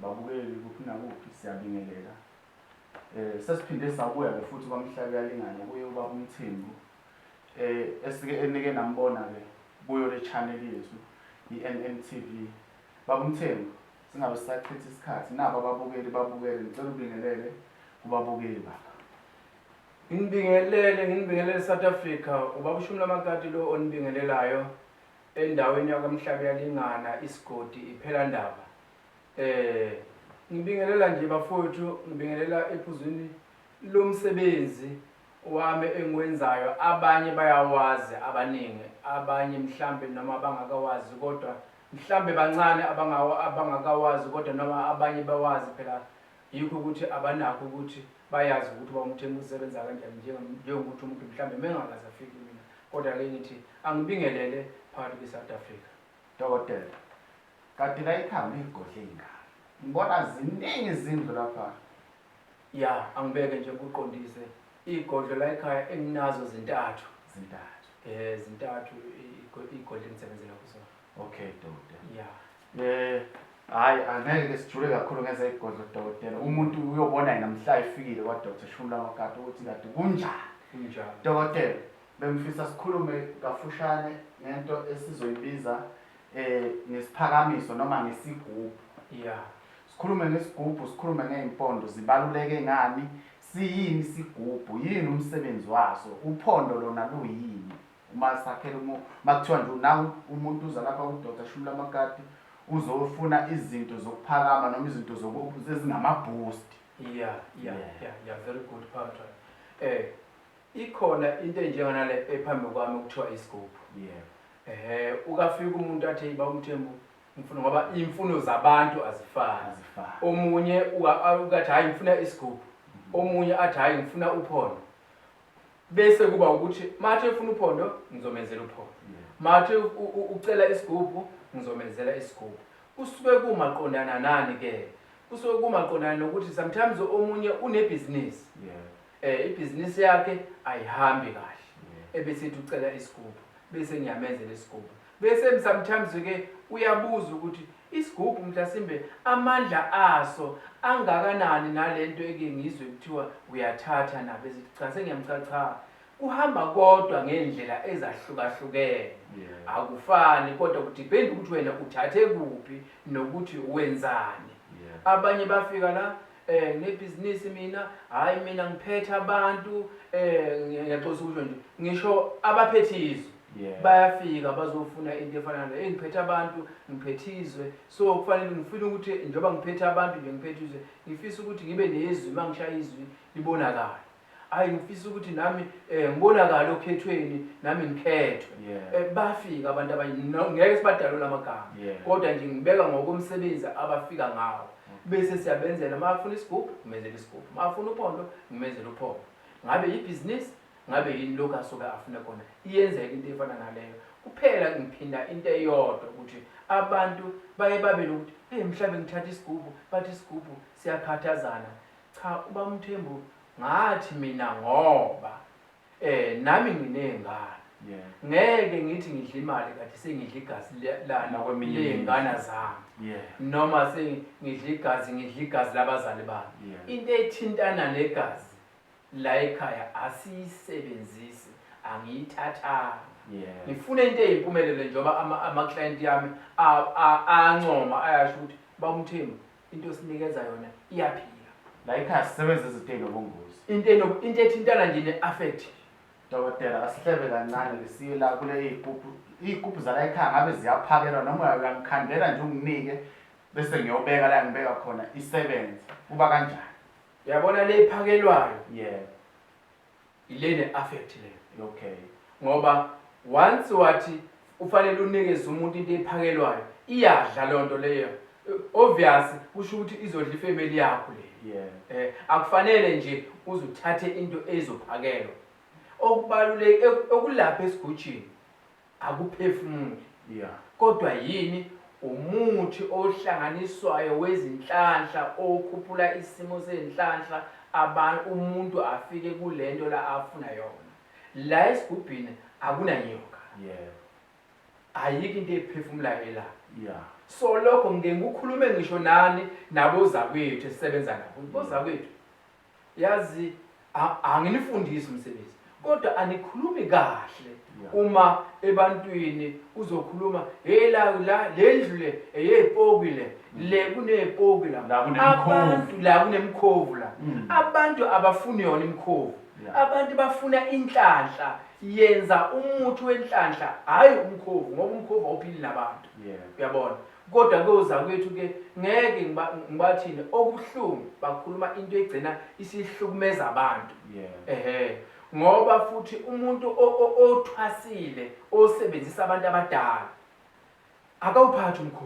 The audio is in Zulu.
Babukeli kuphi nakuphi siyabingelela. Eh sesiphinde sabuya ke futhi kwamhlabe yalingana kuye ubaba uMthembu eh esike enike nambona ke kuyo le channel yethu iNNTV. Baba uMthembu singabe sisachitha isikhathi nabo ababukeli babukele ngicela ubingelele kubabukeli baba. Nginibingelele nginibingelele South Africa ubaba uShumi lamakati lo onibingelelayo endaweni yakwamhlabe yalingana isigodi iphela ndaba Eh ngibingelela nje bafowethu ngibingelela ephuzwini lomsebenzi wami engiwenzayo abanye bayawazi abaningi abanye mhlambe noma abangakawazi kodwa mhlambe bancane abangawo abangakawazi kodwa noma abanye bawazi phela yikho ukuthi abanakho ukuthi bayazi ukuthi bawumthembu usebenza kanjani njengokuthi umuntu mhlambe mengakaze afike mina kodwa ke ngithi angibingelele phakathi kwi-south africa dokotela Kade kayikhamba igodle ingane. Ngibona ziningi izindlu lapha. Ya, angibeke nje ngikuqondise. Igodlo la ekhaya enginazo zintathu. Zintathu. Eh, zintathu igodle engisebenzela kuzona. Okay, dokotela. Ya. Eh, hayi angeke ke sijule kakhulu ngenza igodlo dokotela. Umuntu uyobona yena mhla efikile kwa Dr. Shumla Makati ukuthi kade kunjani. Kunjani? Dokotela, bengifisa sikhulume kafushane ngento esizoyibiza eh ngesiphakamiso noma ngesigubhu yeah sikhulume ngesigubhu sikhulume ngeyimpondo zibaluleke ngani siyini isigubhu yini umsebenzi waso uphondo lona luyini uma sakhela umu makuthiwa nje nawu umuntu uza lapha udoda shumula amakati uzofuna izinto zokuphakama noma izinto ezingamaboost yeah yeah yeah yeah very good part eh ikhona into enjenganale ephambi kwami okuthiwa isigubhu yeah Ehhe ukafika umuntu athi yiba umthembu ngifuna ngoba imfuno zabantu azifani. Azifani. Omunye uka- a- ukathi hayi ngifuna isigubhu. Omunye athi hayi ngifuna uphondo. Bese kuba ukuthi mathe ufuna uphondo ngizomenzela uphondo. Mathe u- u- ucela isigubhu ngizomenzela isigubhu. Kusuke kumaqondana nani ke? Kusuke kumaqondana nokuthi sometimes omunye unebhizinisi. Yeah. Eh ibhizinisi yakhe ayihambi kahle. Ebesithi ucela isigubhu bese ngiyamenzela isigubhu. Bese sometimes ke uyabuza ukuthi isigubhu mhlasimbe amandla aso angakanani nalento eke ngizwe kuthiwa uyathatha nabo ezithi cha sengiyamcela cha kuhamba kodwa ngendlela ezahlukahlukene yeah. akufani kodwa kudepend ukuthi wena uthathe kuphi nokuthi wenzani yeah. abanye bafika la eh nginebhizinisi mina hayi mina ngiphethe abantu eh ngiyaxolisa ukusho nje ngisho abaphethe izwe Yeah. bayafika bazofuna into efana nale hey ngiphethe abantu ngiphethe izwe so kufanele ngifuna ukuthi njengoba ngiphethe abantu nje ngiphethe izwe ngifisa ukuthi ngibe nezwi uma ngishaya izwi libonakale Hayi ngifisa ukuthi nami eh ngibonakala okhethweni nami ngikhethwe. Yeah. Eh, bafika abantu abanye no- ngeke sibadalule amagama Yeah. kodwa nje ngibeka ngokomsebenzi abafika ngawo. Bese siyabenzela uma afuna isigubhu ngimenzela isigubhu. Uma afuna uphondo ngimenzela uphondo. Ngabe yibhizinisi ngabe yini lokho asuke afune kona. Iyenzeka into efana naleyo. Kuphela ngiphinda into eyodwa ukuthi abantu baye babe nokuthi hey mhlawumbe ngithatha isigubhu bathi isigubhu siyakhathazana. Cha ubaMthembu ngathi mina ngoba eh nami nginezingane Yeah. ngeke ngithi ngidla imali kade sengidla igazi le- lani Nakweminye ley'ngane imizi. zami Yeah. noma sengidla igazi ngidla igazi labazali bami Yeah. into ethintana negazi la ekhaya asiyisebenzisi angiyithathanga Yeah. ngifuna into eyimpumelelo njengoba ama- ama-client yami a- a- ayancoma ayasho ukuthi bawumthembu into osinikeza yona iyaphila la ikhaya sisebenza izinto ezinobungozi into eno- into ethintana nje ne-affect dokotela asihlebe kancane lisiye la kule iy'gubhu iy'gubhu zala ekhaya ngabe ziyaphakelwa noma uya- uyangikhandela nje unginike bese ngiyobeka la ngibeka khona isebenze kuba kanjani yabona le iphakelwayo yebo Ile ne affect le. Okay. Ngoba once wathi ufanele unikeze umuntu into ephakelwayo iyadla lonto leyo. Obvious kusho ukuthi izodla ifamily yakho le. Yeah. Eh akufanele nje uzuthathe into ezophakelwa. Okubaluleke okulapha esigujini akuphefumuli yeah. kodwa yini umuthi ohlanganiswayo wezinhlanhla okhuphula isimo sezinhlanhla abantu umuntu afike kulento la afuna yona la esigubhini akunanyoka yeah. ayikho into ephefumulayo ela yeah. so lokho ngeke ngikhulume ngisho nani nabozakwethu esisebenza nabo bozakwethu Yazi anginifundisi umsebenzi kodwa anikhulumi kahle uma ebantwini uzokhuluma hey la la lendlu le eyepoki le le kunepoki la abantu la kunemkhovu la mm. abantu abafuni yona imkhovu abantu bafuna inhlanhla yenza umuthi wenhlanhla hayi umkhovu ngoba umkhovu awuphili nabantu uyabona Kodwa ke ozakwethu ke ngeke ngiba ngibathini okubuhlungu bakhuluma into egcina isihlukumeza abantu. Yeah. Ehhe. Ngoba futhi umuntu o- o- othwasile osebenzisa abantu abadala akawuphathi umkhosi.